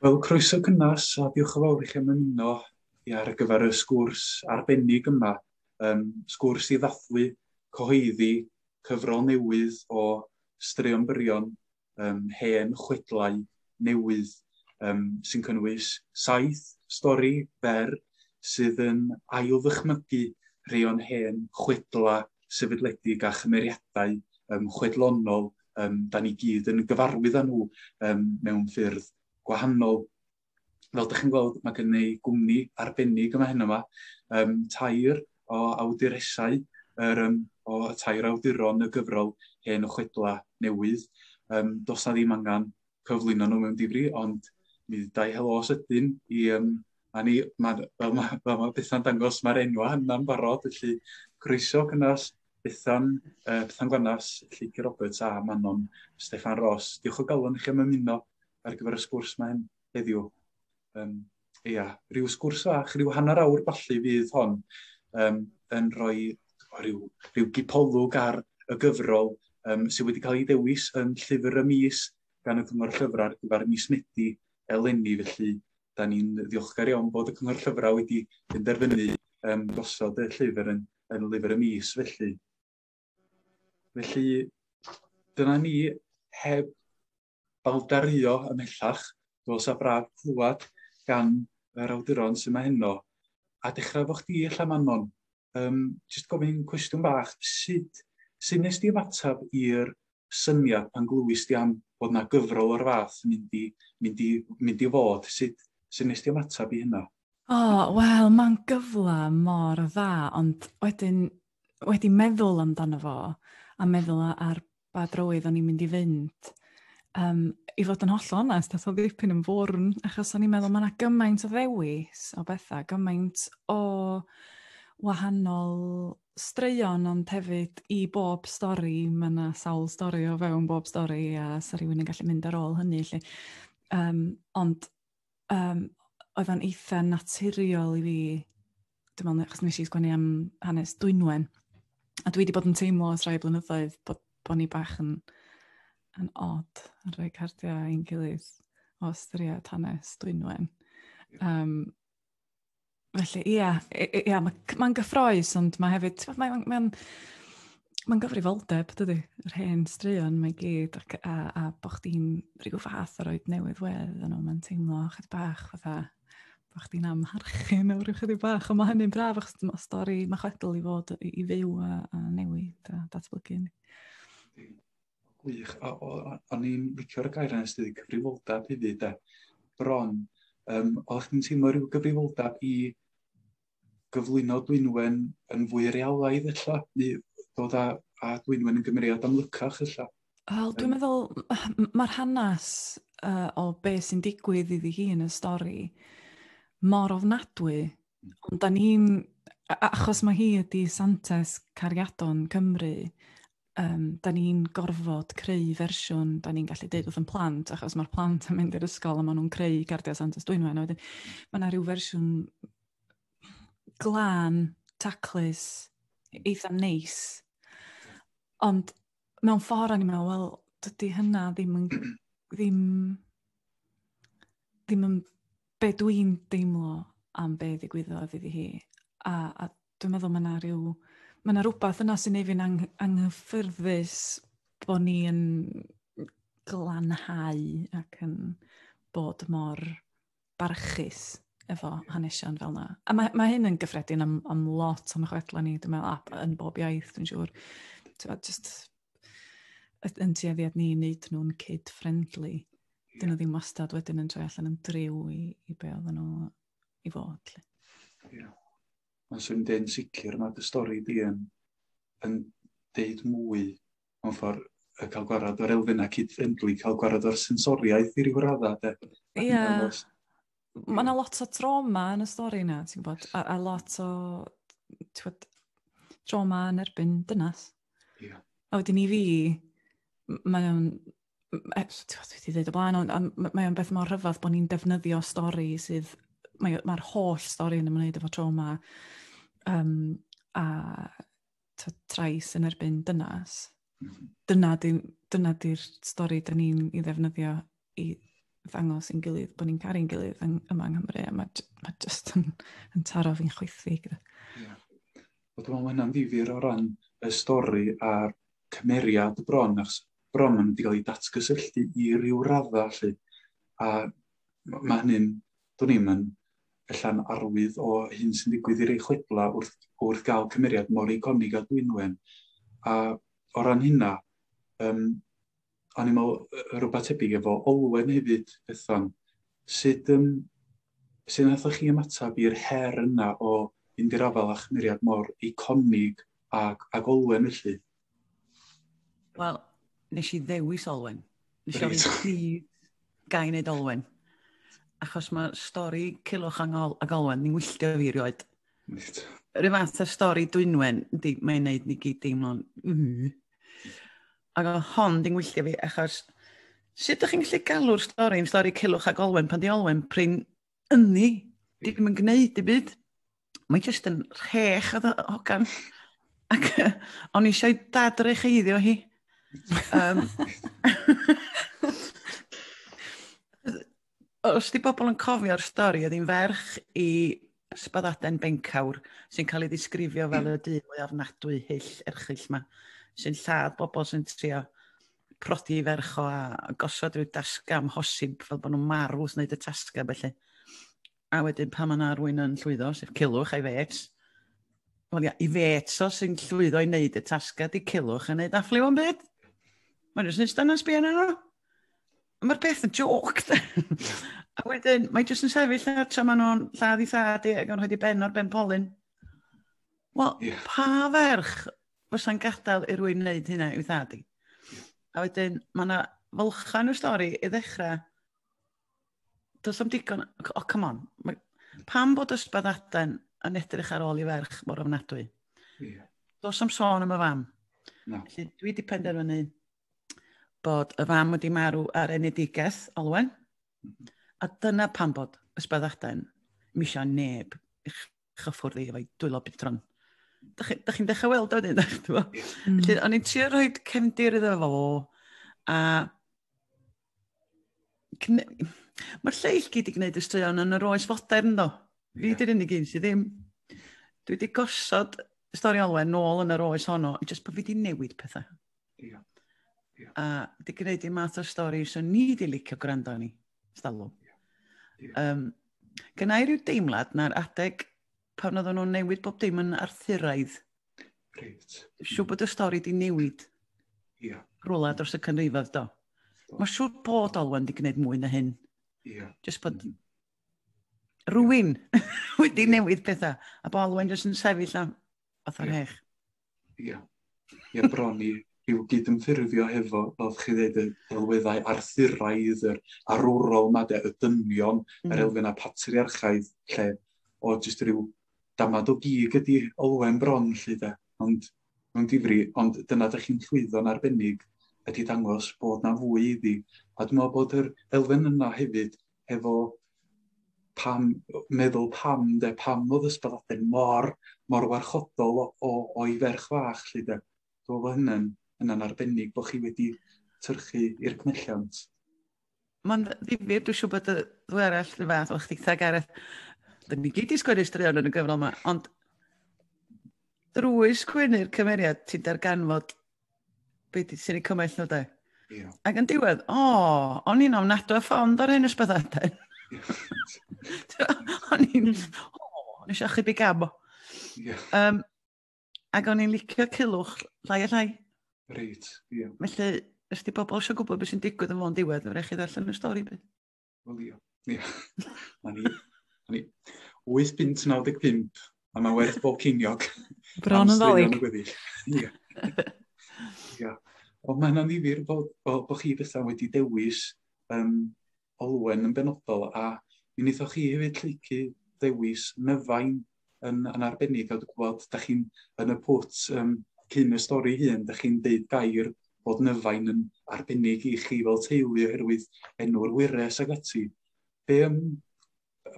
Wel, croeso cynnes a diolch yn fawr i chi am ymuno i ar gyfer y sgwrs arbennig yma. Um, sgwrs i ddathlu cyhoeddi cyfrol newydd o straeon byrion um, hen chwedlau newydd um, sy'n cynnwys saith stori fer sydd yn ail ddychmygu rhai o'n hen chwedla sefydledig a chymeriadau um, chwedlonol um, da ni gyd yn gyfarwydd â nhw um, mewn ffyrdd gwahanol. fel dych chi'n gweld, mae gen i gwmni arbennig yma hyn yma, um, tair o awduresau, er, um, o y tair awduron y gyfrol hen o chwedla newydd. Um, dos na ddim angen cyflwyno nhw mewn difri, ond mi ddau helo os ydyn i um, a ni, ma, fel mae ma, ma Bethan dangos, mae'r enwa yna'n barod, felly croeso cynnas Bethan, uh, Bethan Gwanas, Lleici Roberts a Manon Stefan Ross. Diolch o galon i chi am ymuno ar gyfer y sgwrs mae hyn heddiw. Um, ia, rhyw sgwrs fach, rhyw hanner awr balli fydd hon um, yn rhoi rhyw, rhyw gipolwg ar y gyfrol um, sydd wedi cael ei dewis yn llyfr y mis gan y Cyngor Llyfrau ar gyfer mis Medi eleni, felly da ni'n ddiolchgar iawn bod y Cyngor Llyfrau wedi penderfynu um, gosod y llyfr yn, yn lyfr y mis felly. Felly, dyna ni heb baldaruo ymhellach, dos a braf clywed gan yr awduron sy'n ma heno. A dechrau fo chdi ella Manon, um, jyst gofyn cwestiwn bach, sut, sut nes di ymateb i'r syniad pan glywys di am bod na gyfrol o'r fath yn mynd i, mynd i, mynd i fod, sut, sut nes di ymateb i hynna? O, oh, wel, mae'n gyfle mor dda, ond wedyn wedi meddwl amdano fo, a meddwl ar ba drywydd o'n i'n mynd i fynd. Um, I fod yn holl onest, a oedd ddipyn yn fwrn, achos o'n i'n meddwl mae yna gymaint o ddewis o bethau, gymaint o wahanol straeon ond hefyd i bob stori, mae yna sawl stori o fewn bob stori a sa rhywun yn gallu mynd ar ôl hynny. Lle. Um, ond um, oedd o'n eitha naturiol i fi, dwi'n meddwl, achos nes i sgwennu am hanes Dwynwen, a dwi wedi bod yn teimlo os rai blynyddoedd bod, bod ni bach yn, yn odd yn rhoi cardiau i'n gilydd o ystyried hanes Dwynwen. Um, Felly, ia, ia mae'n ma, ma gyffroes, ond mae hefyd, mae'n ma, ma ma gyfrifoldeb, dydy, yr hen straeon mae gyd, ac, a, a bod chdi'n rhyw fath o roed newydd wedd yn nhw, mae'n teimlo chydig bach fatha, bod chdi'n amharchu mewn rhyw chydig bach, ond mae hynny'n braf, achos mae stori, mae chwedl i fod i, i fyw a, a newid a datblygu. Gwych. O, o, o'n i'n licio'r gair yna sydd wedi cyfrifoldeb hefyd de. Bron, um, oeddech chi'n teimlo rhyw gyfrifoldeb i gyflwyno Dwynwen yn fwy realaidd illa, neu dod â, â Dwynwen yn gymeriad amlycach illa? Wel, dwi'n meddwl, mae'r hanes uh, o be sy'n digwydd iddi hi yn y stori mor ofnadwy, hmm. ond da ni'n, achos mae hi ydi Santes cariadon Cymru, yrm dan ni'n gorfod creu fersiwn dan ni'n gallu deud wrth yn plant achos mae'r plant yn mynd i'r ysgol a maen nhw'n creu cardiau Santes Dwynwen a wedyn mae yna rhyw fersiwn glân, taclus, eitha neis. Ond mewn ffordd o'n i'n meddwl, wel, dydy hynna ddim yn ddim ddim yn be dw i'n deimlo am be ddigwyddodd iddi hi. A, a dwi'n meddwl mae yna rhyw... Mae yna rhywbeth yna sy'n ei fi'n ang anghyffyrddus bod ni'n glanhau ac yn bod mor barchus efo hanesion fel yna. A mae, mae hyn yn gyffredin am, am lot o'n chwedlau ni, dwi'n meddwl, yn bob iaith, dwi'n siŵr. Just yn tueddiad ni wneud nhw'n kid-friendly. Yeah. Dyn nhw ddim wastad wedyn yn troi allan yn driw i, i be oedden nhw i fod. Ie. Yeah. Mae'n sy'n dyn sicr, mae dy stori di yn, yn deud mwy mewn ffordd y cael gwarad o'r elfennau cyd-friendly, cael gwarad o'r sensoriaeth i ryw raddau. Ie. Yeah. ma' 'na lot o drawma yn y stori 'na ti'n gwbod a a lot o t'wod trawma yn erbyn dynas. Ia. A wedyn i fi m- mae o'n m- e- s- t'wod dwi 'di ddeud o blaen ond ond m- mae o'n beth mor rhyfadd bo' ni'n defnyddio stori sydd mae o ma'r holl stori yn ymwneud efo trawma yym a trais yn erbyn dynas. Mhm. Dyna di'r dyna di stori dyn ni'n ei ddefnyddio i ddangos i'n gilydd bod ni'n caru'n gilydd yn, yma yng Nghymru. A mae ma jyst yn, yn taro fi'n chwythu. Yeah. Wel, dwi'n meddwl hynna'n ddifur o ran y stori a'r cymeriad y bron, achos bron maen nhw wedi cael eu datgysylltu i ryw raddau, lle. A mae hynny'n Dwn i'm, yn ella'n arwydd o hyn sy'n digwydd i rei chwiblau wrth wrth gael cymeriad mor eiconig a Dwynwen. A o ran hynna, um, o'n i'n meddwl rhywbeth tebyg efo Olwen hefyd, Bethan. Sut, um, sut nathoch chi ymateb i'r her yna o fynd i'r afal â chymeriad mor eiconig ac, ac Olwen felly? Wel, nes i ddewis Olwen. Nes i ofyn chi gai wneud Olwen. Achos mae stori Cilwch Angol ac Olwen, ni'n wylltio fi rioed. Reit. Rhyw fath o stori Dwynwen, di, mae'n neud ni gyd deimlo'n... Mm. Ac o hon di'n wylltio fi, achos sut ydych chi'n gallu galw'r stori yn stori Cilwch ac Olwen pan di Olwen prin ynni, ddim yn gwneud dim byd. Mae jyst yn rhech oedd y hogan. Ac yy, o'n i eisiau dad yr echeiddio hi. Um, os di bobl yn cofio'r stori, oedd hi'n ferch i Sbaddaden Bencawr, sy'n cael ei ddisgrifio fel y dyn mwy ofnadwy hyll erchyll yma, sy'n lladd bobl sy'n trio prodi ferch o a gosod rhyw dasga amhosib fel bod nhw'n marw wrth wneud y tasga felly. A wedyn pan mae yna rwy'n yn llwyddo, sef Cilwch a'i fets, wel ia, i fets o sy'n llwyddo i wneud y tasga di Cilwch yn wneud affliw o'n byd. Mae'n jyst yn eistedd yna'n sbio nhw. Mae'r peth yn joc. a wedyn, mae jyst yn sefyll ar tra maen nhw'n lladd i thad i ac yn rhaid i ben o'r ben polyn. Wel, yeah. pa ferch fysa'n gadael i rwy'n wneud hynna i'w thad i. A wedyn, mae yna fylchan o'r stori i ddechrau. Does am digon... O, oh, come on. Mae, pam bod ysbad aden yn edrych ar ôl i ferch mor ofnadwy? Yeah. Does am sôn am y fam. No. Felly, dwi wedi penderfynu bod y fam wedi marw ar enedigaeth, Olwen. Mm -hmm. A dyna pam bod ysbad aden misio neb chyffwrdd i efo'i dwylo bitron. Dych chi'n chi dechrau weld o'n un, eich dweud? Mm. Felly, o'n i'n trio rhoi cefndir iddo fo, a... Mae'r lleill gyd i gwneud y straeon yn yr oes fodern, ddo. Fi yeah. di'r unig un sydd ddim. Dwi wedi gosod y stori olwen nôl yn yr oes honno, jyst bod fi wedi newid pethau. Ia. Ia. A di gwneud i math o stori so ni di licio gwrando ni. Stalw. Ia. Ia. Um, Gyna i ryw deimlad na'r adeg pan oedden nhw'n newid bob dim yn arthuraidd. Reit. Siw bod y stori di newid. Ia. Yeah. Rwla dros y canrifodd do. Mae siwr bod Olwen di gwneud mwy na hyn. Ia. Yeah. Just bod mm. rwy'n wedi newid pethau. A bod Olwen jyst yn sefyll am fath o'r hech. Ie. Ie, bron i i'w gydymffurfio hefo, fel chi ddeud, y delweddau arthuraidd, yr arwrol yma, de, y dynion, mm. yr elfenau patriarchaidd, lle o jyst rhyw damad o gig ydy olwen bron, lle de. Ond mewn difri, ond dyna da chi'n llwyddo'n arbennig ydy dangos bod na fwy iddi. A dwi'n meddwl bod yr elfen yna hefyd hefo pam, meddwl pam, de, pam oedd ysbyddoden mor, mor warchodol o'i ferch fach, lle de. Dwi'n meddwl hynny'n hynna arbennig bod chi wedi tyrchu i'r cnelliant. Mae'n ddifir, dwi'n siŵr bod y ddwy arall yn fath o'ch chdi, Gareth. Dyn ni gyd i sgwennu straeon yn y gyfrol yma, ond drwy sgwennu'r cymeriad ti'n darganfod Be di, sy'n ei cymell nhw de? Yeah. Ac yn diwedd, o, oh, o'n i'n ofnadw a ffond ar hyn ysbyddadau. o'n i'n, o, oh, o'n eisiau chydig gam o. Yeah. Um, ac o'n i'n licio cilwch llai a llai. Reit, ie. Yeah. Felly, ysdi pobl eisiau gwybod beth sy'n digwydd yn fo'n diwedd, fe rech chi ddarllen y stori beth. O Leo. Ie. O'n i, o'n i 8 punt 95, a mae werth bob ceiniog. Bron yn ddolig. Ie. Ie. Ond mae'n anifir bod, bod, bod chi bethau wedi dewis um, olwen yn benodol, a mi wnaethoch chi hefyd lleicu dewis nyfain yn, yn arbennig, a dwi'n gwybod, da chi'n yn y pwt um, cyn y stori hun, da chi'n deud gair bod nyfain yn arbennig i chi fel teulu oherwydd enw'r wyres ag ati. Be, um,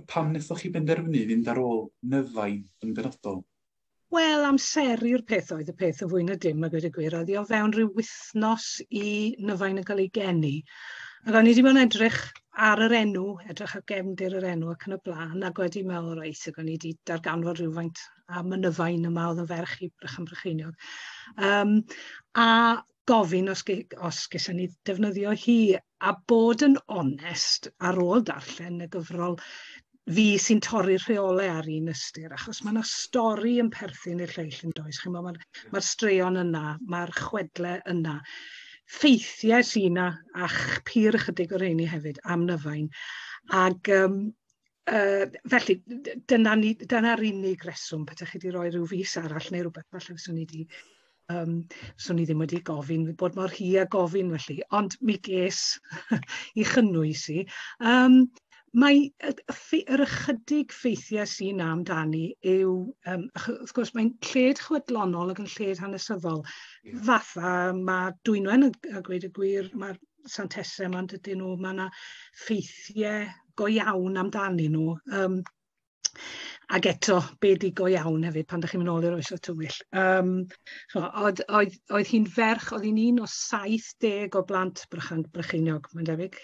pam wnaethoch chi benderfynu fynd ar ôl nyfain yn benodol? Wel, amser i'r peth oedd y peth o fwy na dim, a gweud y gwir, oedd i o fewn rhyw wythnos i nyfain yn cael ei geni. Ac o'n i wedi bod yn edrych ar yr enw, edrych ar gefndir yr enw ac yn y blaen, ac wedi meddwl, reit, ac o'n i wedi darganfod rhywfaint a mynydda un yma oedd yn ferch i Brychan Brycheiniog. Um, a gofyn os, ge, os gysyn ni defnyddio hi, a bod yn onest ar ôl darllen y gyfrol, fi sy'n torri'r rheolau ar un ystyr, achos mae yna stori yn perthyn i'r lleill yn does. Chi'n Mae'r ma straeon yna, mae'r chwedle yna. Ffeithiau sy'n yna, a'ch pyr ychydig o'r rheini hefyd, am nyfain. Ac um, uh, felly, dyna'r dyna unig reswm, pethau chi wedi rhoi rhyw fus arall neu rhywbeth, falle fyswn i wedi Yym, 'swn i ddim wedi gofyn bod mor hi a gofyn felly, ond mi ges i chynnwys i. Yym, mae y y ffei- yr ychydig ffeithiau sy 'na amdani yw yym ch- wrth gwrs mae'n lled chwedlonol ac yn lled hanesyddol... Ie. ...fatha ma' Dwynwen yn a gweud y gwir ma'r Sant Tese 'ma yndydyn nw ma' 'na ffeithie go iawn amdanyn nw yym Ac eto, be ydy go iawn hefyd pan dych chi'n mynd nôl i'r Oesoedd Tywyll? Yym ch'mo', oedd oedd oedd hi'n ferch, oedd hi'n un o 70 o blant Brychan- Brycheiniog, mae'n debyg.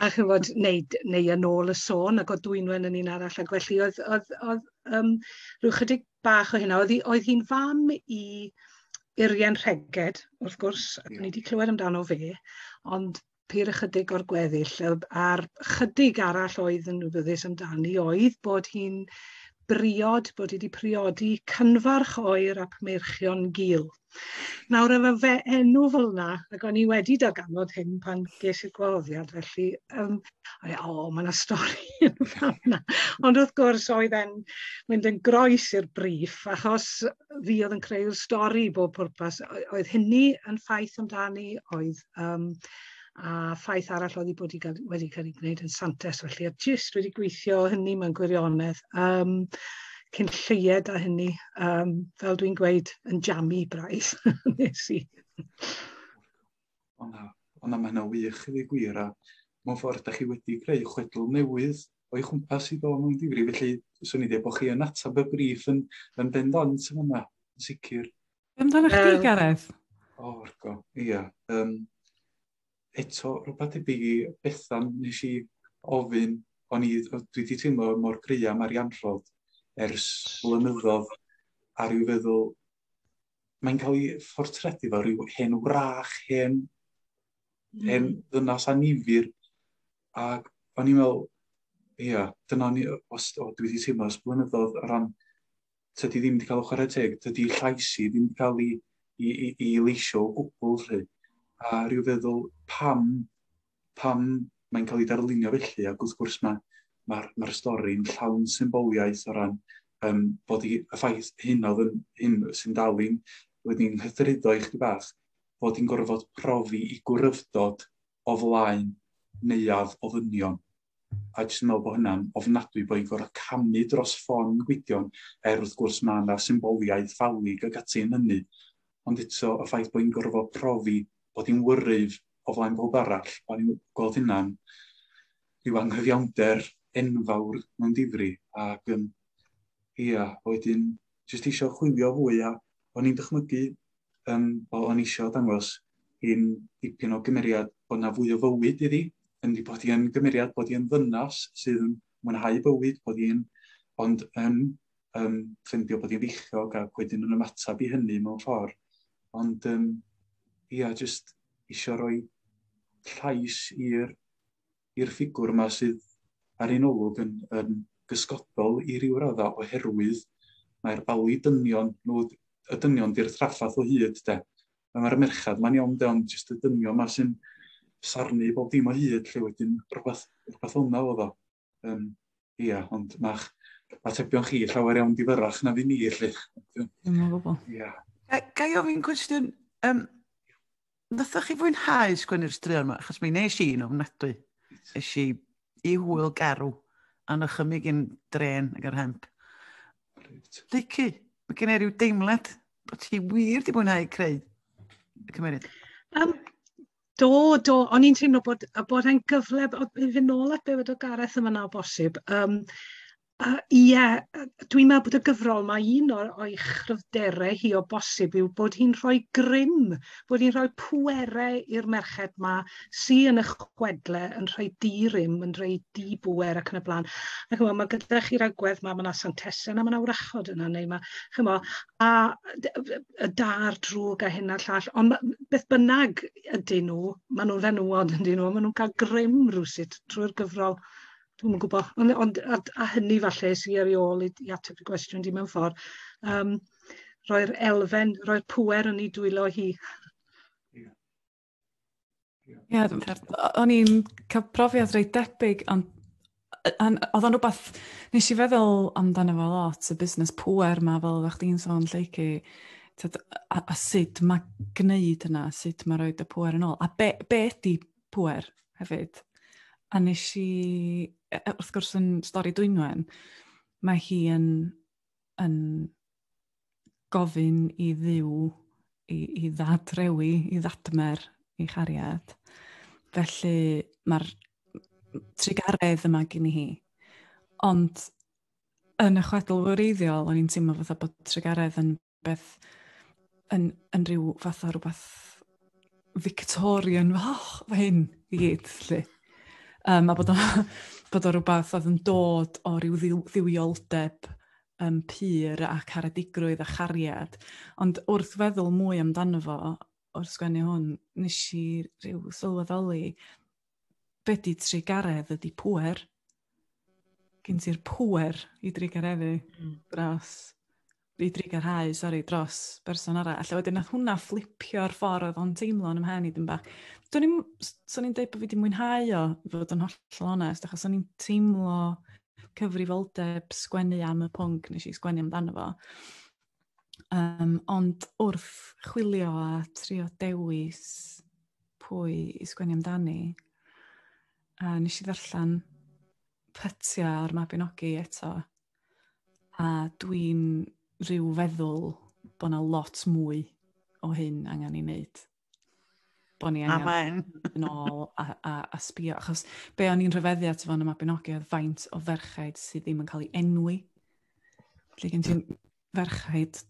A ch'mod, neu d- neu yn ôl y sôn, ac oedd Dwynwen yn un arall, ac felly oedd oedd oedd yym ryw 'chydig bach o hynna. Oedd hi oedd hi'n fam i Urien Rheged, wrth gwrs, ni 'di clywed amdano fe, ond pur ychydig o'r gweddill yy a'r chydig arall oedd yn wybyddus amdani oedd bod hi'n briod, bod hi wedi priodi cynfarch oer ap meirchion gul. Nawr efo fe enw fel yna, ac o'n i wedi darganfod hyn pan ges i'r gwahoddiad, felly, um, o, o mae yna stori yn fanna. Ond wrth gwrs, oedd e'n mynd yn groes i'r brif, achos fi oedd yn creu'r stori bob pwrpas. Oedd hynny yn ffaith amdani, oedd Um, a ffaith arall oedd wedi bod i gael, wedi cael ei gwneud yn Santes, felly a jyst wedi gweithio hynny mewn gwirionedd. Um, cyn lleied a hynny, um, fel dwi'n gweud, yn jamu braidd nes i. Ond na, mae yna wych i gwir, a mewn ffordd, da chi wedi creu chwedl newydd o'i chwmpas i ddod mewn difri, felly swn i dweud bod chi yn atab y brif yn, yn bendant yn yma, yn sicr. Be amdano chdi, um, Gareth? O, oh, rgo, ia. Um, eto, rhywbeth debyg i Bethan, nes i ofyn, o'n i, dwi wedi teimlo mor gry am arianrhod ers blynyddoedd, a rhyw feddwl, mae'n cael ei ffortredu fel rhyw hen wrach, hen, mm. hen ddynas anifir, ac o'n i'n meddwl, ia, dyna ni, os, o, dwi wedi teimlo ers blynyddoedd o ran tydi ddim wedi cael o chwarae teg, tydi llais i ddim wedi cael ei, ei, ei, ei leisio o gwbl lle. A rhyw feddwl pam, pam mae'n cael ei darlunio felly, ac wrth gwrs mae'r ma, ma, ma stori'n llawn symboliaeth o ran um, bod i, y ffaith hyn oedd yn, hyn sy'n dal i'n wedyn hyffryddo i chdi bach, bod i'n gorfod profi i gwrywdod o flaen neuaf o ddynion. a jyst yn meddwl bod hynna'n ofnadwy bod hi'n gorfod camu dros ffon Gwydion, er wrth gwrs mae yna symboliaeth ffalig ag ati yn hynny. Ond eto, y ffaith bod hi'n gorfod profi bod hi'n wyryf o flaen bob arall, o'n i'n gweld hynna'n rhyw anghyfiawnder enfawr mewn difri. Ac um, ia, wedyn, jyst eisiau chwilio fwy a o'n i'n dychmygu um, o, o'n eisiau dangos hi'n dipyn o gymeriad bod na fwy o fywyd iddi, yn di bod hi'n gymeriad bod hi'n ddynas sydd yn mwynhau bywyd, bod hi'n ond yn um, ffeindio bod hi'n feichiog ac wedyn yn ymateb i hynny mewn ffordd. Ond um, ia, jyst eisiau rhoi llais i'r i'r ffigwr yma sydd ar un olwg yn, yn gysgodol i ryw radda oherwydd mae'r bali dynion nhw, y dynion di'r traffath o hyd de. Mae'r merched ma'n iawn de, ond jyst y dynion ma sy'n sarnu bob dim o hyd lle wedyn rhywbeth, rhywbeth o'na oedd o. Um, ia, ond mae'ch atebion chi llawer iawn difyrach na fi ni, lle. Dim o gwbl. Ia. Ga i ofyn cwestiwn, um, Nathoch chi fwynhau sgwennu'r straeon yma? Achos mi nes i'n ofnadwy. Nes i i hwyl garw a nychymig i'n dren ag yr hemp. Leicu, mae gen i rhyw deimlad bod ti wir di mwynhau creu y cymeriad. Um, do, do, o'n i'n teimlo bod, bod e'n gyfle, o, i fynd nôl at be o Gareth yma na o bosib, um, A, ie, dwi'n meddwl bod y gyfrol, mae un o'r, o'i chryfderau hi o bosib yw bod hi'n rhoi grym, bod hi'n rhoi pwerau i'r merched ma sy yn y chwedle yn rhoi di-rym, yn rhoi di-bwer ac yn y blaen. A chymo, mae gyda chi'r agwedd ma, mae yna santesen a mae yna wrachod yna, neu mae, chymo, a y dar drwg a hyn a'r llall, ond beth bynnag ydyn nhw, maen nhw'n fenywod ydyn nhw, maen nhw'n cael grym rhywsut trwy'r gyfrol. dwi'm yn gwbo. Ond ond a a hynny falle sy ar ei ôl i i ateb dy gwestiwn di mewn ffordd yym rhoi'r elfen rhoi'r pŵer yn 'i dwylo hi. Ia dwi'n credu o- o'n i'n ca'l profiad reit debyg ond yy yn o'dd o'n rwbath nesh i feddwl amdano fo lot y busnes pŵer 'ma fel oddach chdi'n sôn Lleucu t'od a a sud ma' gneud hynna sud ma' roid y pŵer yn ôl a be' be' ydi pŵer hefyd. A nes i, e, e, wrth gwrs yn stori Dwynwen, mae hi yn, yn gofyn i ddiw i, i ddadrewi, i ddadmer i chariad. Felly mae'r trigaredd yma gen i hi. Ond yn y chwedl wreiddiol, o'n i'n teimlo fatha bod trigaredd yn beth yn, yn rhyw fath o rhywbeth Victorian, oh, fe hyn i gyd, lle. Um, a bod o, bod o rhywbeth oedd yn dod o ryw ddiw, ddiwioldeb um, pur a caredigrwydd a chariad. Ond wrth feddwl mwy amdano fo, o'r sgwennu hwn, nes i rhyw sylweddoli be di trugaredd ydi pwer. Gyn ti'r pwer i drugareddu mm. dros, i drugarhau, sori, dros berson arall. Alla wedyn nath hwnna fflipio'r ffordd oedd o'n teimlo yn ymhen i dyn bach. Do'n i'n, so'n i'n dweud bod fi wedi mwynhau o, i fod yn hollol onest, achos o'n i'n teimlo cyfrifoldeb sgwennu am y pwnc nes i sgwennu amdano fo. Um, ond wrth chwilio a trio dewis pwy i sgwennu amdani, a nes i ddarllen pytia o'r Mabinogi eto, a dwi'n rhyw feddwl bod yna lot mwy o hyn angen ei wneud. Bo ni angen yn ôl a, a, a sbio. Achos be o'n i'n rhyfeddu at fo'n y Mabinogi oedd faint o ferchaid sydd ddim yn cael ei enwi. Lle gen ti'n ferchaid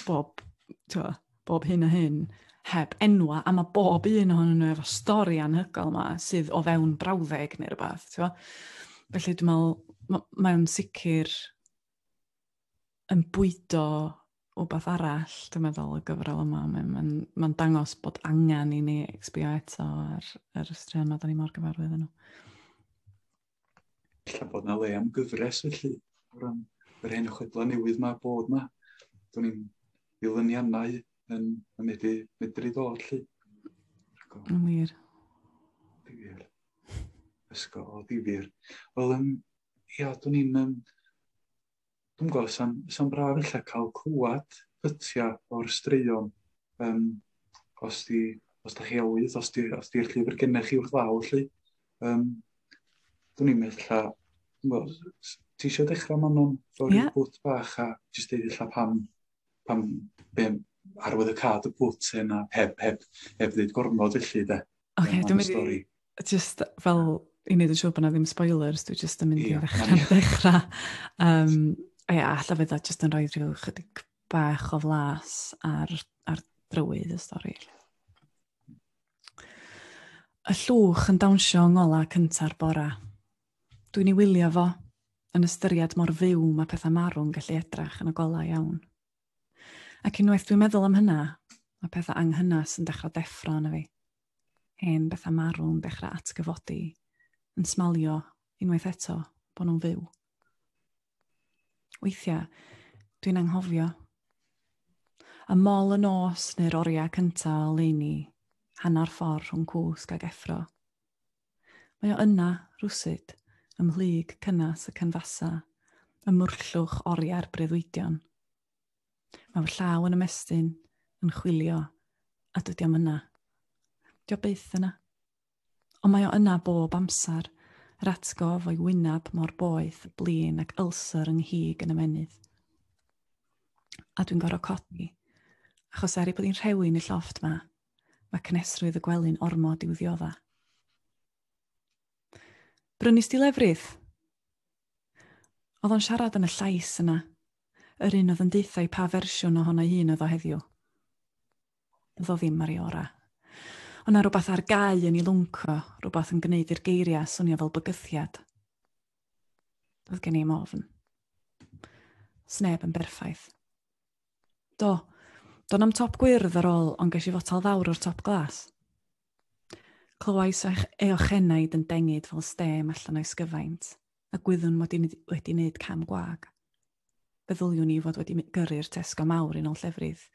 bob, twa, bob hyn a hyn heb enwa, a mae bob un ohonyn nhw efo stori anhygoel yma sydd o fewn brawddeg neu rhywbeth. Twa. Felly dwi'n meddwl, mae'n sicr yn bwydo wbath arall, dwi'n meddwl, y gyfrol yma. Mae'n ma ma dangos bod angen i ni exbio eto ar yr ystrad yma, da ni mor gyfarwydd yno. Lle bod na le am gyfres felly, o ran yr hen chwedlau newydd mae bod na. Do'n i'n ddilyniannau yn, yn medru, medru ddod lle. Yn wir. Difyr. Ysgol o difyr. Wel, um, ia, do'n i'n um, Dwi'n gweld, sa'n, sa'n braf eich cael clywed pytiau o'r straeon. Um, os di, os da chi awydd, os di'r os di llyfr gennych chi wrth law, lle. Um, dwi'n i'n meddwl lla, well, ti eisiau dechrau man o'n ffordd yeah. bwt bach a jyst deud illa pam, pam be, arwydd y cad y bwt hyn a heb, heb, heb ddeud gormod felly de. Oce, okay, dwi'n mynd i... just fel i wneud yn siŵr bod na ddim spoilers, dwi just yn mynd yeah, i ddechrau. Yeah. ddechrau. Um, ia, alla fydd o just yn rhoi rhyw chydig bach o flas ar, ar drywydd y stori. Y llwch yn dawnsio yng ngola cynta'r bora. Dwi'n ei wylio fo, yn ystyried mor fyw mae pethau marw'n gallu edrach yn y golau iawn. Ac unwaith dwi'n meddwl am hynna, mae pethau anghynnas yn dechrau deffro yna fi. hen bethau marw'n dechrau atgyfodi, yn smalio unwaith eto bod nhw'n fyw. Weithiau, dwi'n anghofio. Y mol y nos neu'r oriau cyntaf o leini, hanner ffordd rhwng cwsg ag effro. Mae o yna, rwsyd, ymhlyg cynnas y cynfasa, y mwrllwch oriau'r breuddwydion. Mae fy llaw yn ymestyn, yn chwilio, a dydy o'm yna. Dio byth yna. Ond mae o yna bob amser, yr atgof o'i wyneb mor boeth, blin ac ulcer yng nghig yn ymenydd. A dwi'n gorau codi, achos er ei bod hi'n rhewi yn y llofft ma, mae cnesrwydd y gwely'n ormod i'w ddiodda. Brynus di lefrydd? Oedd o'n siarad yn y llais yna, yr un oedd yn deuthau pa fersiwn ohono ei hun oedd o heddiw. Oedd o ddim ar ei orau. Ond na rhywbeth ar gau yn ei lwnco, rhywbeth yn gwneud i'r geiriau swnio fel bygythiad. Oedd gen i'n ofn. Sneb yn berffaith. Do, do'n am top gwyrdd ar ôl, ond ges i fotal fawr o'r top glas. Clywais eich eochenaid yn dengyd fel stêm allan o'i sgyfaint, a gwyddwn mod i wedi wneud cam gwag. Feddyliwn i fod wedi gyrru'r tesgo mawr yn ôl llefrith,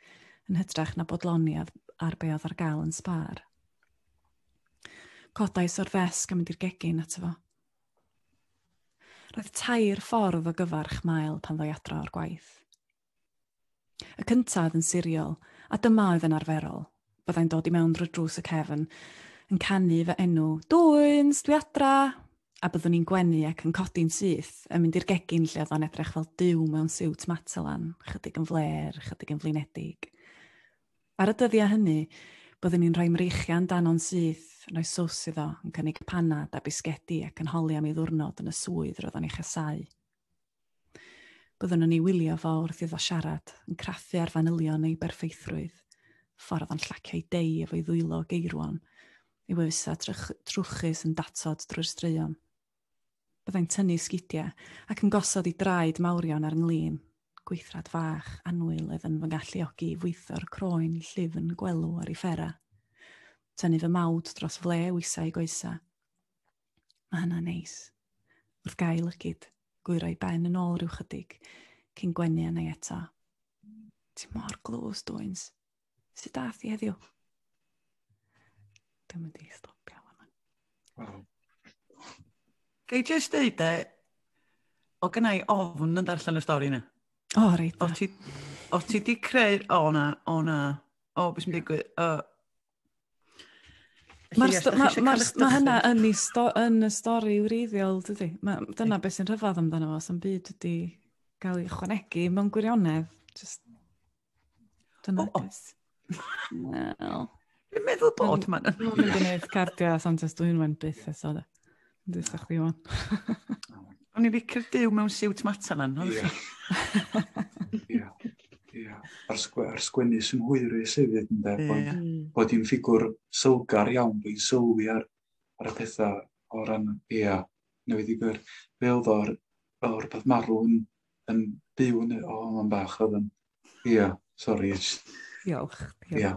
yn hytrach na bodloni ar be oedd ar gael yn sbar. Codais o'r ddesg a mynd i'r gegin ato fo. Roedd tair ffordd o gyfarch mael pan ddoi adra o'r gwaith. Y cyntaf yn siriol, a dyma oedd yn arferol. Byddai'n dod i mewn drwy drws y cefn, yn canu fy enw, Dwyns, dwi adra! A byddwn i'n gwenu ac yn codi'n syth, yn mynd i'r gegin lle oedd o'n edrych fel dyw mewn siwt matelan, chydig yn fler, chydig yn flinedig. Ar y dyddiau hynny, byddwn i'n rhoi mreichian dan o'n syth, yn rhoi sws iddo, yn cynnig panad a bisgedi ac yn holi am ei ddwrnod yn y swydd roedd o'n ei chasau. Byddwn yn ei wylio fo wrth iddo siarad, yn craffu ar fanylion ei berffeithrwydd, ffordd o'n llaciau deu efo'i ddwylo geirwon, ei wefusau trwchus yn datod drwy'r straeon. Byddai'n tynnu sgidiau ac yn gosod ei draed mawrion ar nglin, gweithrad fach anwyl oedd yn fy ngalluogi i fwytho'r croen llyfn gwelw ar ei ffera. Tynnu fy mawd dros fle wisau ei goesau. Mae hynna'n neis. Wrth gael lygyd, gwyroi ben yn ôl rhyw chydig, cyn gwenu yna i eto. Ti mor glws, dwyns. Sut dath i heddiw? Dwi'n mynd i stopio hwnna. Wow. Gei jyst dweud e, o gynnau ofn yn darllen y stori yna. O, oh, reit. O ti, o ti di creu, o na, o na, o beth sy'n digwydd, o, Mae hynna yn, y sto, yn y stori wreiddiol, dydy. Ma, dyna beth sy'n rhyfedd amdano fo, sy'n byd wedi cael ei chwanegu mewn gwirionedd. Just... Dyna oh, oh. Wel... Dwi'n meddwl bod, man. Dwi'n mynd i wneud cardiau, ond dwi'n mynd byth eto. Dwi'n sa'ch chdi o'n. O'n i'n licio'r byw mewn siwt matan lan. Ia. Ia. Ia. A'r, sgw ar sgwennu sy'n hwyru sefyd yn dweud bod, mm. bod hi'n ffigwr sylgar iawn, bod hi'n sylwi ar, ar y pethau o ran, ia, newid i gyr. Fe oedd o'r, o'r peth marw yn, yn byw yn, o, oh, bach oedd yn Ia, sori. Diolch. Ia,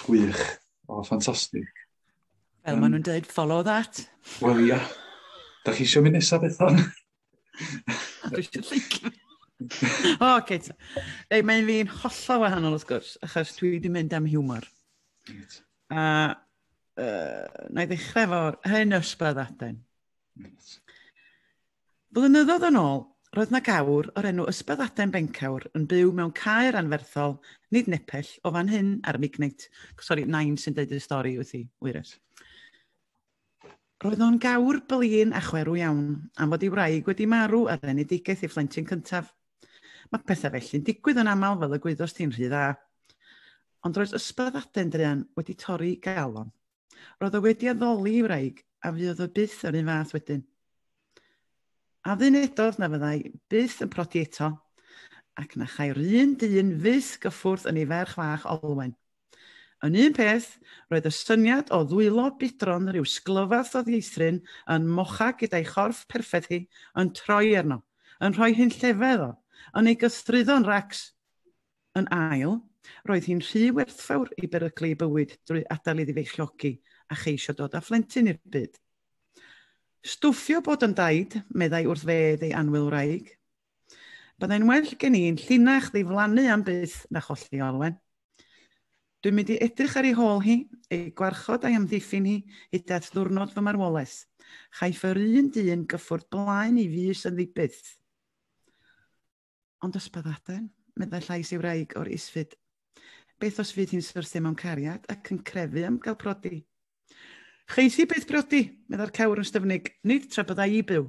gwych. O, ffantastig. Fel um, maen nhw'n dweud, follow that. Wel, ia. Da chi eisiau mynd nesaf beth o'n? Dwi eisiau lleicio. o, oce. Ei, mae'n fi'n hollol wahanol, wrth gwrs, achos dwi wedi mynd am hiwmor. A uh, na i ddechrau fo hyn ysbryd aden. Flynyddoedd yn ôl, roedd 'na gawr o'r enw Ysbyddaden Bencawr yn byw mewn caer anferthol nid nepell o fan hyn ar Mignate. Sori, nain sy'n deud y stori wyt ti, Wyres. Roedd o'n gawr blin a chwerw iawn, am fod ei wraig wedi marw ar enedigaeth ei phlentyn cyntaf. Mae pethau felly'n digwydd yn aml fel y gwyddos ti'n rhy dda. Ond roedd ysbyddaden druan wedi torri galon. Roedd o wedi addoli i wraig a fuodd o byth yr un fath wedyn. A ddyn edodd na fyddai byth yn prodi eto, ac na chai'r un dyn fyth gyffwrdd yn ei ferch fach olwen. Yn un peth, roedd y syniad o ddwylo bidron rhyw sglyfath o ddieithryn yn mocha gyda'i chorff perffaith hi yn troi arno, yn rhoi hunllefedd o, yn ei gythruddo'n racs. Yn ail, roedd hi'n rhy werthfawr i beryglu ei bywyd drwy adael iddi feichiogi a cheisio dod â phlentyn i'r byd. Stwffio bod yn daid, meddai wrth fedd ei anwyl wraig. Byddai'n well gen i'n llinach ddiflannu am byth na cholli Olwen. Dwi'n mynd i edrych ar ei hôl hi, ei gwarchod a'i amddiffyn hi hyd at ddwrnod fy marwolaeth. Chaiff yr un dyn gyffwrdd blaen ei fys yn ddibyth. Ond ysbyddaden, meddai llais ei wraig o'r isfyd. Beth os fydd hi'n syrthio mewn cariad ac yn crefu am gael prodi? Cheiff hi byth brodi, meddai'r cewr yn styfnig, nid tra byddai i byw.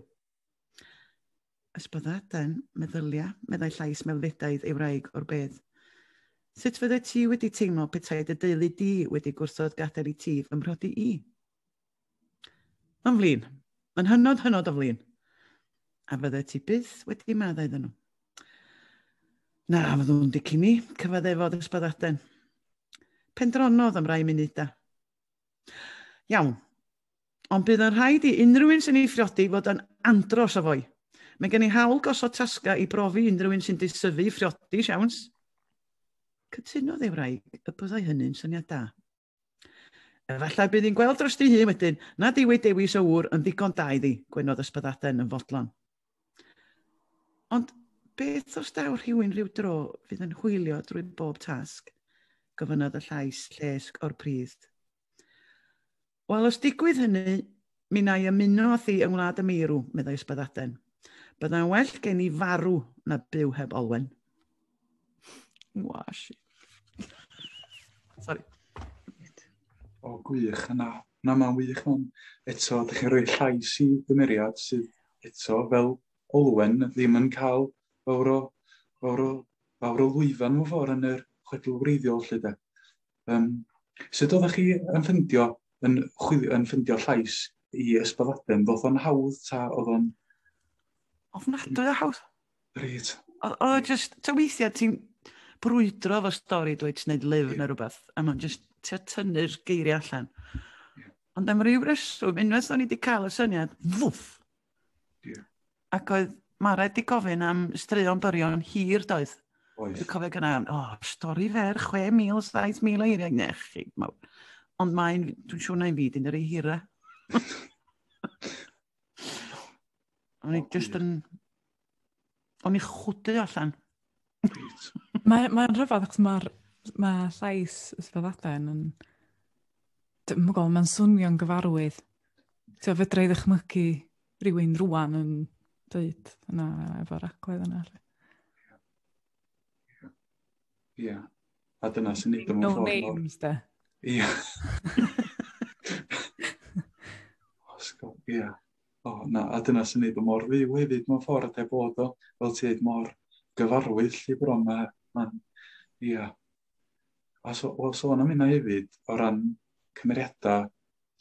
Ysbyddaden, meddylia, meddai llais meddfedaidd ei wraig o'r bedd. Sut fydde ti wedi teimlo petai dy deulu di wedi gwrthod gadael i ti fy mhrodi i? Mae'n flin. Mae'n hynod, hynod o flin. A fydde ti byth wedi maddau iddyn nhw. Na, fyddwn dicyn ni, cyfad efo'r ysbadaden. Pendronodd am rai munudau. Iawn, ond bydd yn rhaid i unrhyw un sy'n ei phriodi fod yn andros o fwy. Mae gen i hawl gosod tasga i brofi unrhyw un sy'n disyfu i phriodi, siawns. Cytunodd ei wraig y byddai hynny'n syniad da. Efallai bydd hi'n gweld dros dy hun wedyn nad yw ei dewis o wr yn ddigon da iddi, gwenodd ysbyddaden yn fodlon. Ond beth os daw rhywun rhyw dro fydd yn hwylio drwy bob tasg? gofynnodd y llais llesg o'r pridd. Wel, os digwydd hynny, Mi wna i ymuno â thi yng Ngwlad y Meirw, meddai Ysbyddaden. Byddai'n well gen i farw na byw heb Olwen. Washi. Sorry. O, gwych. Na, na mae'n wych. Ond eto, ydych chi'n rhoi llais i gymeriad sydd eto fel Olwen ddim yn cael fawr o, fawr o, fawr o lwyfan mewn ffordd yn yr chwedl wreiddiol, lle de. Um, sut oeddech chi yn ffyndio, yn, chwilio, yn ffyndio llais i ysbyddaden? Ddoth o'n hawdd ta oedd o'n... Ofnadwy o hawdd. Reit. Oedd just, ta weithiau ti'n brwydro fo stori dweud ti'n gwneud lyfr yeah. neu rhywbeth, a mae'n just ti'n tynnu'r geiriau allan. Ond am ryw reswm, unwaith o'n i wedi cael y syniad, fwff, Yeah. Ac oedd Mara wedi gofyn am straeon byrion hir, doedd? Oes. Dwi'n cofio gyda, o, oh, stori fer, 6,000, 7,000 o eiriau nech chi. Ond mae'n, dwi'n siŵr na'n fyd yn yr ei hira. O'n i just yn o'n i chwdu allan. Mae'n mae rhyfedd achos mae'r ma llais ysbyddaden yn... Dwi'n gwybod, mae'n swnio'n gyfarwydd. So, fedra i ddychmygu rhywun rwan yn dweud yna efo'r agwedd yna. Ie. Yeah. A dyna sy'n nid o'n ffordd. No names, da. Ie. Osgo, ie. O, na, a dyna sy'n neud o mor fyw hefyd mewn ffordd, ynde, bod o, fel ti dweud, mor gyfarwydd lle bron, mae, mae'n, ia. A so, o, sôn am hynna hefyd, o ran cymeriadau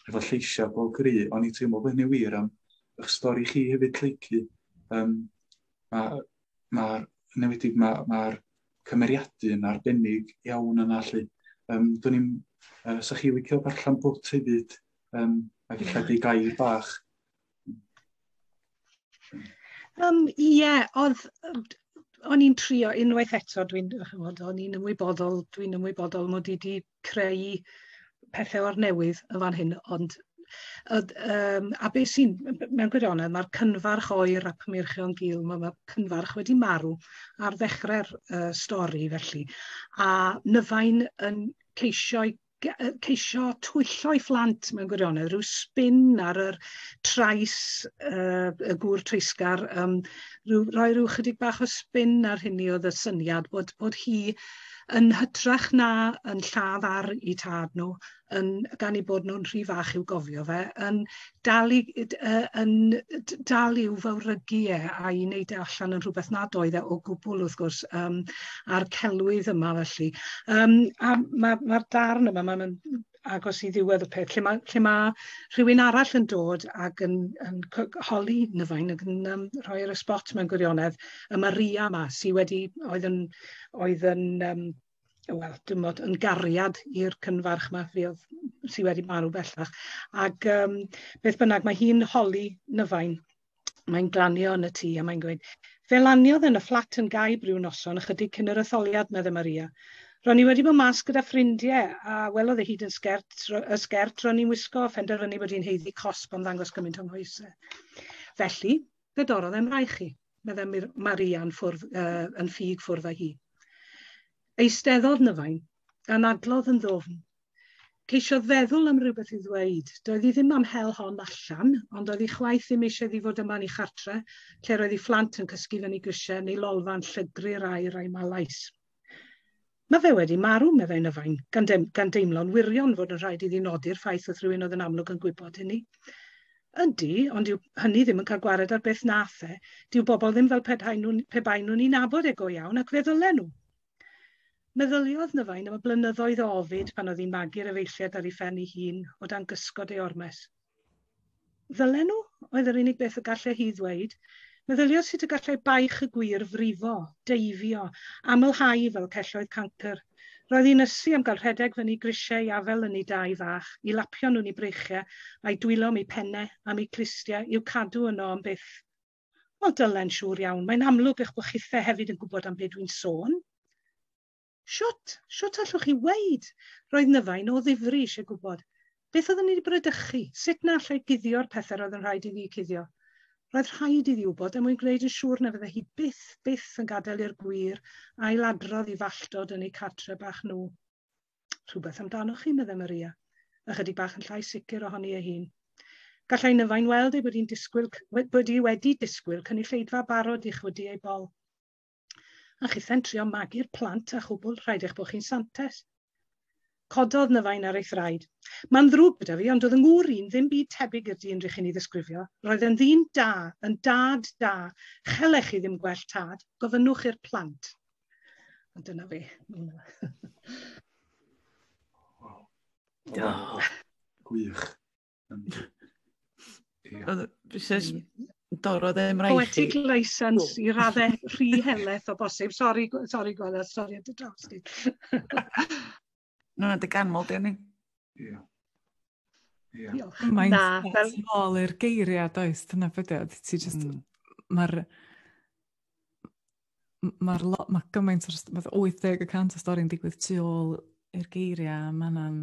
efo lleisiau bob gry, o'n i'n teimlo bod hynny wir am eich stori chi hefyd, Lleicu. Um, Mae'r ma, ma newedig, mae'r ma, ma cymeriadu yn arbennig iawn yna, lle. Um, Do'n i'n, uh, sa chi licio darllen bwt hefyd, um, ac eich di gair bach. Um, ie, yeah, oedd, o'n i'n trio unwaith eto, dwi'n, o'n i'n ymwybodol, dwi'n ymwybodol mod i wedi creu pethau o'r newydd yn fan hyn, ond um, a beth sy'n, mewn gwirionedd, mae'r cynfarch oer a pymyrchion gil, mae ma cynfarch wedi marw ar ddechrau'r uh, stori felly. A Nyfain yn ceisio'i ceisio twyllo ei phlant mewn gwirionedd, rhyw spin ar yr trais uh, y gŵr treisgar, um, rhyw, roi rhyw chydig bach o spin ar hynny oedd y syniad bod, bod hi yn hytrach na yn lladd ar i tad nhw, yn, gan ei bod nhw'n rhy fach i'w gofio fe, yn dal i yy d- yy yn yy d- dal i'w fawrhygi e a'i neud e allan yn rhwbeth nad oedd e o gwbwl wrth gwrs yym a'r celwydd yma felly. Yym a ma' ma'r darn yma ma' ma'n agos i ddiwedd y peth lle ma' lle ma' rhywun arall yn dod ag yn yn co- holi Nyfain ag yn yym rhoi e ar y sbot mewn gwirionedd y Maria 'ma sy wedi oedd yn oedd yn yym wel, dwi'n bod yn gariad i'r cynfarch ma fi oedd sydd wedi marw bellach. Ac um, beth bynnag, mae hi'n holi nyfain. Mae'n glanio yn y tŷ a mae'n gweud, fe laniodd yn y fflat yn gaib rhyw noson ychydig cyn yr etholiad, medde Maria. Ro'n i wedi bod mas gyda ffrindiau a welodd ei hyd yn sgert, y sgert ro'n i'n wisgo, fenderfynu bod hi'n heiddi cosb am ddangos gymaint o'n hoesau. Felly, fe dorodd e'n rai chi. meddai Mir- Marian ffwrdd, uh, yn ffug ffwrdd â hi. Eisteddodd Nyfain, gan adlodd yn ddofn. Ceisiodd feddwl am rhywbeth i ddweud. Doedd hi ddim am hel hon allan, ond oedd hi chwaith ddim eisiau ddi fod yma'n ei chartre, lle roedd ei phlant yn cysgu fyny grisiau neu lolfa'n llygru'r aer a'i malais. Mae fe wedi marw, meddai Nyfain, gan, dem, gan deimlo'n wirion fod yn rhaid iddi nodi'r ffaith wrth rywun oedd yn amlwg yn gwybod hynny. Ydy, ond yw hynny ddim yn cael gwared ar beth nath e. Dyw bobl ddim fel pe baen nhw'n pe baen nhw'n ei nabod e go iawn ac fe ddylen nhw. Meddyliodd Nyfain am y blynyddoedd o ofid pan oedd hi'n magu'r efeilliaid ar ei phen ei hun o dan gysgod ei ormes. Ddylen nhw, oedd yr unig beth y gallai hi ddweud. Meddyliodd sut y gallai baich y gwir frifo, deifio, amlhau fel celloedd cancr. Roedd hi'n ysu am gael rhedeg fyny grisiau i afel ynni dau fach, i lapio nhw'n i breichiau, a'i dwylo am ei phenne, am ei clustiau, i'w cadw yno am byth. Wel, Dylen, siŵr iawn, mae'n amlwg eich bod chithe hefyd yn gwybod am be dwi'n sôn. Shwt, shwt allwch chi weud? Roedd Nyfain o ddifri eisiau gwybod. Beth oeddwn i wedi bradychu? Sut na allai guddio'r pethau roedd yn rhaid iddi cuddio? Roedd rhaid iddi wybod er mwyn gwneud yn siŵr na fydde hi byth, byth yn gadael i'r gwir ail-adrodd i falltod yn eu cartre bach nhw. Rhywbeth amdanoch chi, meddai Maria, ychydig bach yn llai sicr ohoni ei hun. Gallai Nyfain weld ei bod hi'n disgwyl, bod hi wedi disgwyl cynulleidfa barod i chwydu ei bol. A chithau'n trio magu'r plant a chwbl rhaid eich bod chi'n santes. Cododd Nyfain ar ei thraed. Mae'n ddrwg gyda fi, ond oedd yng ngŵr i'n ddim byd tebyg i'r dyn rychi'n ei ddisgrifio. Roedd e'n ddyn da, yn dad da. Chellech chi ddim gwell tad, gofynnwch i'r plant. Ond dyna fi. Gwych. Saes Doro ddim rhaid Poetic chi. license i raddau rhy heleth o bosib. Sori, sori Gwella, sori at y draws di. Nw'n dy ganmol di ni. Ie. Ie. Mae'n fel ôl i'r geiriau does, dyna beth ydy. Ti just, mm. mae'r mae'r lot, mae gymaint o'r, mae 80 y cant o stori'n digwydd tu ôl i'r geiriau, mae yna'n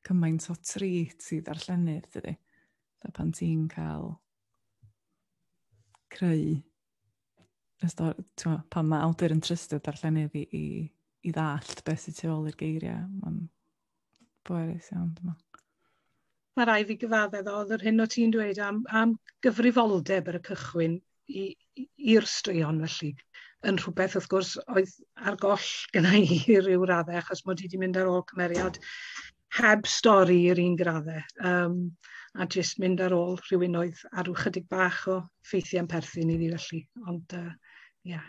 cymaint o trit i ddarllenydd, dydy. Da pan ti'n cael creu y stori, twa, pan mae awdur yn trystio darllenydd i, i, i ddallt beth sy'n tu ôl i'r geiriau, mae'n bwerus iawn, dyma. Mae rai fi gyfaddedd oedd yr hyn o ti'n dweud am, am gyfrifoldeb ar y cychwyn i'r straeon felly. Yn rhywbeth wrth gwrs oedd ar goll gyda i ryw raddau achos mod i wedi mynd ar ôl cymeriad heb stori yr un graddau um, a jyst mynd ar ôl rhywun oedd ar rhyw chydig bach o ffeithiau yn perthyn i fi felly. Ond, uh, yeah.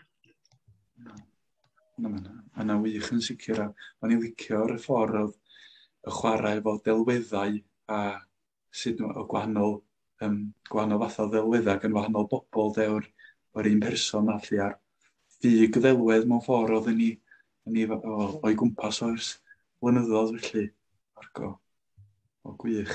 Na, na, na, na wych yn sicr. A o'n i'n licio'r ffordd oedd y chwarae efo delweddau a sut o gwahanol, um, gwahanol fath o ddelweddau gan wahanol bobl de o'r, or un person a lle ar ffug ddelwedd mewn ffordd oedd ni, ni o'i gwmpas o'r flynyddoedd felly. Argo. O gwych.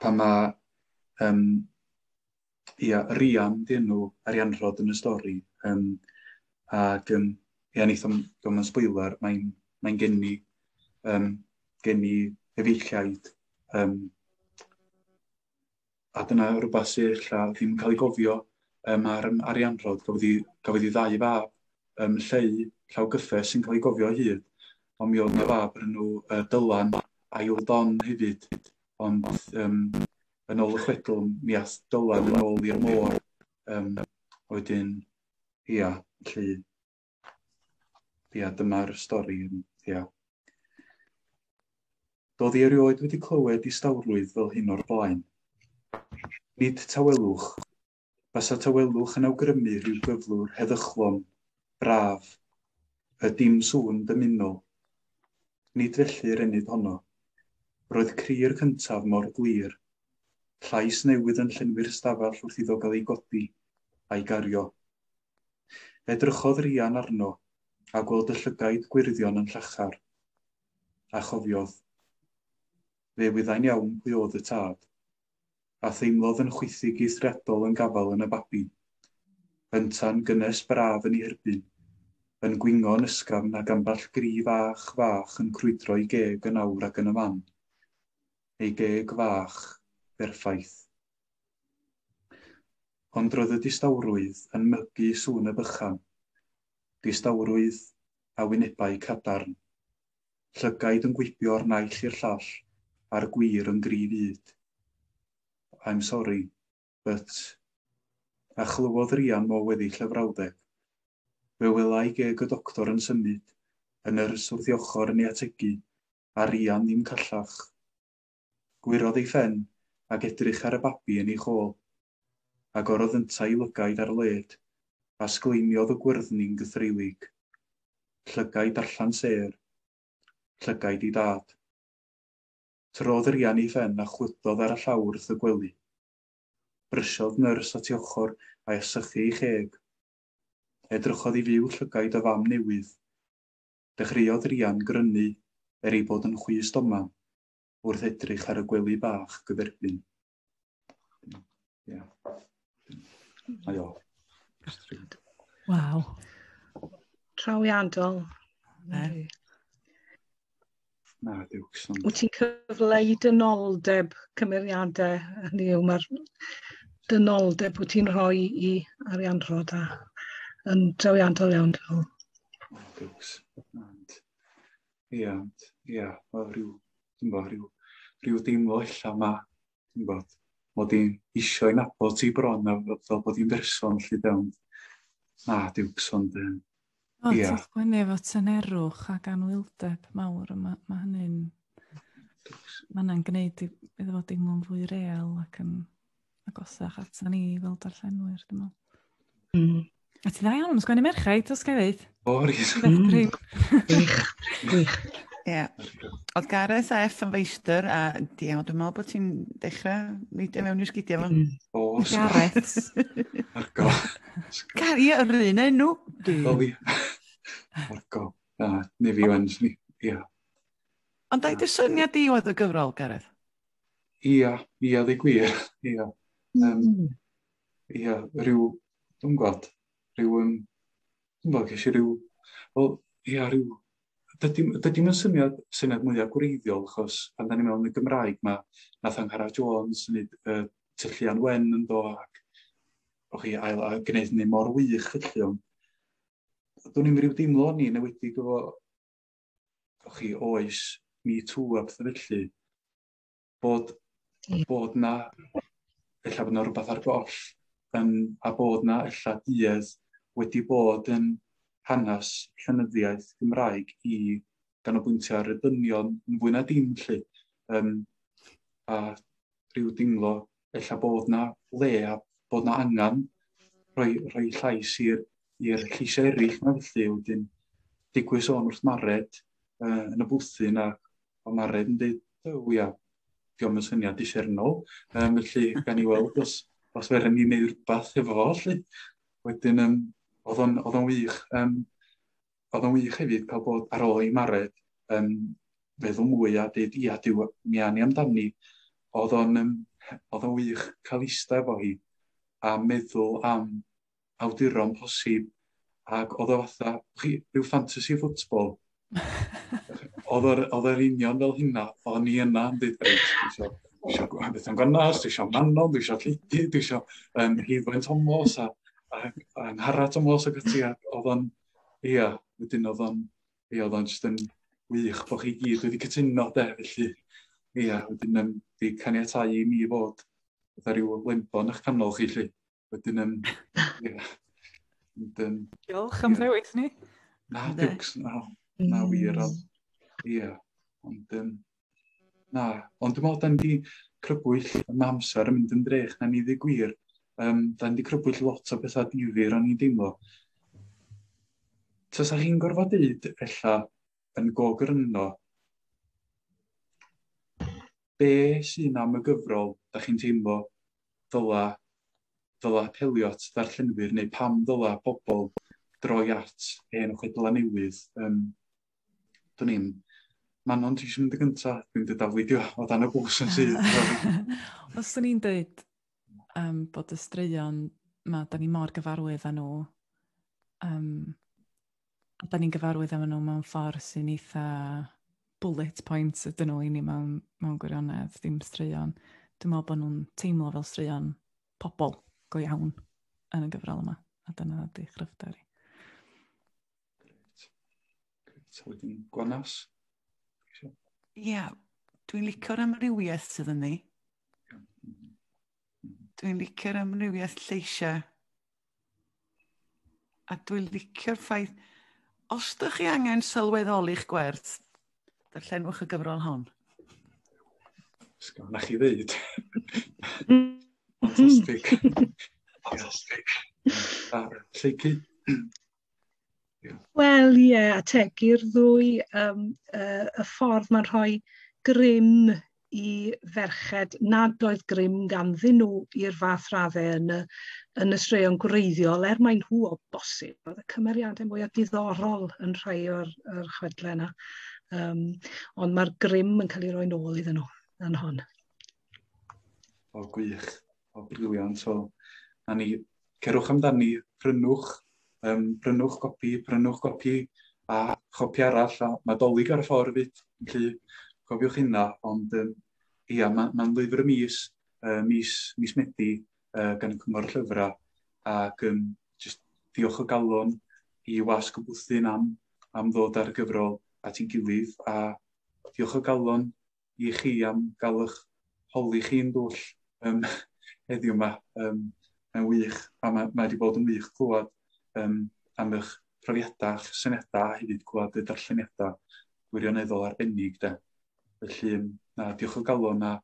pan mae um, ia, Rian, di enw Arianrod yn y stori, um, ac um, ia, neith o'n gofyn yn sbwylar, mae'n mae genni, um, genni efeilliaid, um, a dyna rhywbeth sy'n illa ddim yn cael ei gofio um, ar Arianrod, gafodd ei ddau fab, yym lleu llaw gyffes sy'n cael ei gofio o hyd, ond mi oedd 'na fab o'r enw yy Dylan, ail Don hefyd, ond yym yn ôl y chwedl mi ath Dylan yn ôl i'r môr yym a wedyn ia, felly ia dyma'r stori yym ia. Doedd i erioed wedi clywed distawrwydd fel hyn o'r blaen. Nid tawelwch, Basa tawelwch yn awgrymu rhyw gyflwr heddychlon, braf, y dim sŵn dymunol. Nid felly yr enid honno. Roedd cri'r cyntaf mor glir. Llais newydd yn llenwi'r stafell wrth iddo gael ei godi, a'i gario. Edrychodd Rhian arno, a gweld y llygaid gwyrddion yn llachar. A chofiodd. Fe wyddai'n iawn pwy oedd y tad. a theimlodd yn chwithig eithriadol yn gafael yn y babi. Yntau'n gynnes braf yn ei herbyn, yn gwingo yn ysgafn ag ambell gri fach, fach yn crwydro i geg yn awr ac yn y man. Ei geg fach, berffaith. Ond roedd y distawrwydd yn mygu sŵn y bychan. Distawrwydd a wynebau cadarn. Llygaid yn gwibio o'r naill i'r llall a'r gwir yn dri fyd. I'm sorry, but... A chlywodd Rhian mo weddill y frawddeg. Fe welai geg y doctor yn symud, y nyrs wrth ei ochr yn ei ategu, a Rhian ddim callach. Gwyrodd ei phen, ac edrych ar y babi yn ei chôl. Agorodd yntau 'i lygaid ar led, a sgleimiodd y gwyrddni'n gythreulig. Llygaid darllan sêr. Llygaid ei dad. Tyrrodd yr ian ei phen a chwythodd ar y llawr wrth y gwely. Brysiodd nyrs at ei ochr a'i asychu ei cheg. Edrychodd i fyw llygaid y fam newydd. Dechreuodd yr ian grynu, er ei bod yn chwys doman, wrth edrych ar y gwely bach gyferbyn. Yeah. Aio. Waw. Trawiadol. Mary. Na, Dukes. Ond... Wyt ti'n cyfleu dynoldeb cymeriadau, hynny yw, mae'r dynoldeb wyt ti'n rhoi i Arian Rhoda yn drawiadol iawn, dwi'n meddwl. Dukes. Ie, ond, ie, mae rhyw, ti'n bod, rhyw, rhyw deimlo illa yma, ti'n bod, mod i'n eisiau yn abod ti bron, a fel bod i'n berson, lle dewn. Na, diwcs, ond, ie. O, yeah. ti'n gwneud efo tynerwch ac anwyldeb mawr, mae ma hynny'n... Mae hynny'n gwneud iddo fod deimlo'n fwy real ac yn agosach atyn ni fel darllenwyr, dwi'n meddwl. Mm. A ti dda iawn yn sgwennu merchau, dos gael ddeud? O, rhys. Gwych, gwych. Ie. Oedd Gareth a F yn feistr, a di iawn, dwi'n meddwl bod ti'n dechrau neidio mewn i'r sgidiau fo. Mm. O, Gareth. Marco. Gar, ie, yr un enw. O, fi. Marco. Na, ni fi wan, ni. Ie. Ond da i dy syniad di oedd y gyfrol, Gareth? Ia, ia, ddi gwir, ia. Um, mm. Ia, rhyw, dwi'n gwybod, rhyw, um, dwi'n gwybod, ges i rhyw, wel, ia, rhyw, dydy, dydy mae'n syniad, syniad mwyaf gwreiddiol, achos pan da ni mewn y Gymraeg, mae nath Angharad Jones, nid uh, tyllian wen yn do, ac o chi ail a gwneud hynny mor wych felly, ond dwi'n i'n rhyw deimlo ni newedig efo Gwch chi, oes, me too a pethau felly, bod, bod na, efallai bod na rhywbeth ar goll, yn, a bod na efallai duedd wedi bod yn hanes llenyddiaeth Gymraeg i ganolbwyntio ar y dynion yn fwy na dim, lle. Um, a rhyw deimlo ella bod na le a bod na angen rhoi, rhoi llais i'r i'r lleisiau eraill na felly wedyn digwydd sôn wrth Mared uh, yn y bwthyn a o Mared yn dweud, oh ia, diolch yn syniad disernol, um, felly gan i weld os, os feren ni'n neud rhywbeth efo fo, felly. Wedyn, um, oedd o'n wych. Um, oedd o'n wych hefyd cael bod ar ôl i Mared yn feddwl mwy a dweud, ia, diw, mi a ni amdani. Oedd o'n um, oedd o'n wych cael eista efo hi a meddwl am awduron posib. Ac oedd o fatha, chi, rhyw fantasy football. oedd o'r union fel hynna, o'n i yna yn dweud, reit, dwi eisiau eisiau gweld beth yn gynnas, dwi eisiau Manon, dwi eisiau Lleidi, dwi eisiau um, Heilwen Tomos a, a, a Nghara Tomos ac ati, oedd o'n Ia, wedyn oedd o'n, ia, oedd o'n just yn wych bod chi gyd wedi cytuno de, felly, ia, wedyn yn di caniatau i mi fod gyda rhyw lembo yn eich canol chi, lle. Wedyn yn, ia. Wedyn, Diolch am ddewis ni. Na, diwcs, na, na wir, ond, ia. Ond, um, Na, ond dwi'n meddwl da ni wedi crybwyll, mae amser yn mynd yn drech na ni ddi gwir. Um, da ni wedi crybwyll lot o bethau difyr o'n i'n deimlo. Tasa chi'n gorfod dweud, ella, yn gogr yno, be sy'n am y gyfrol, da chi'n teimlo, ddyla, ddyla apelio at ddarllenwyr, neu pam ddyla pobl droi at hen chwedlau newydd. Um, Dwn i'm. Manon, ti eisiau mynd y gyntaf? Dwi'n dweud afwydio o dan y bws yn sydd. Os o'n i'n dweud um, bod y straeon ma, da ni mor gyfarwydd â nhw, um, a da ni'n gyfarwydd â nhw mewn ffordd sy'n eitha bullet points ydyn nhw i ni mewn, mewn gwirionedd, ddim straeon. Dwi'n meddwl bod nhw'n teimlo fel straeon pobl go iawn yn y gyfrol yma, a dyna ydy chryfder i. Wedyn gwanas. Ie, yeah, dwi'n licio'r amrywiaeth sydd yn ni. Dwi'n licio'r amrywiaeth lleisiau. A dwi'n licio'r ffaith, os ydych chi angen sylweddoli'ch gwerth, darllenwch y gyfrol hon. Sgan na chi ddeud. Fantastic. Fantastic. Lleucu. Wel ie, yeah, ategu'r ddwy um, uh, y ffordd mae'n rhoi grym i ferched nad oedd grym ganddyn nhw i'r fath raddau yn y, yn y straeon gwreiddiol, er maen nhw o bosib. Oedd y cymeriadau mwyaf diddorol yn rhai o'r, or chwedlau yna. Um, ond mae'r grym yn cael ei roi'n ôl iddyn nhw yn hon. O, gwych. O, briliant. So, na ni, cerwch amdani, prynwch, um, prynwch gopi, prynwch gopi a chopi arall, a mae dolyg ar y ffordd fyd, felly cofiwch hynna, ond um, ia, mae'n ma lyfr y mis, uh, mis, mis Medi, uh, gan y Cyngor Llyfrau, ac um, just diolch o galon i wasg y bwthyn am, am ddod ar y gyfrol at ein gilydd, a diolch o galon i chi am gael eich holi chi'n dwll um, heddiw yma. Um, mae'n wych, a mae, mae wedi bod yn wych clywed um, am eich profiadau a'ch syniadau a hefyd clywed y darlleniadau gwirioneddol arbennig. De. Felly, na, diolch o galon a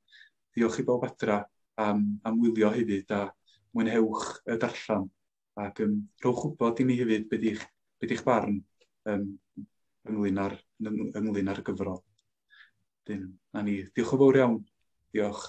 diolch i bawb adra am, am wylio hefyd a mwynhewch y darllen. ac um, rhowch wybod i mi hefyd beth yw'ch be di barn um, ynglyn, ar, ynglyn ar y gyfrol. Dyn, na ni. Diolch o fawr iawn. Diolch.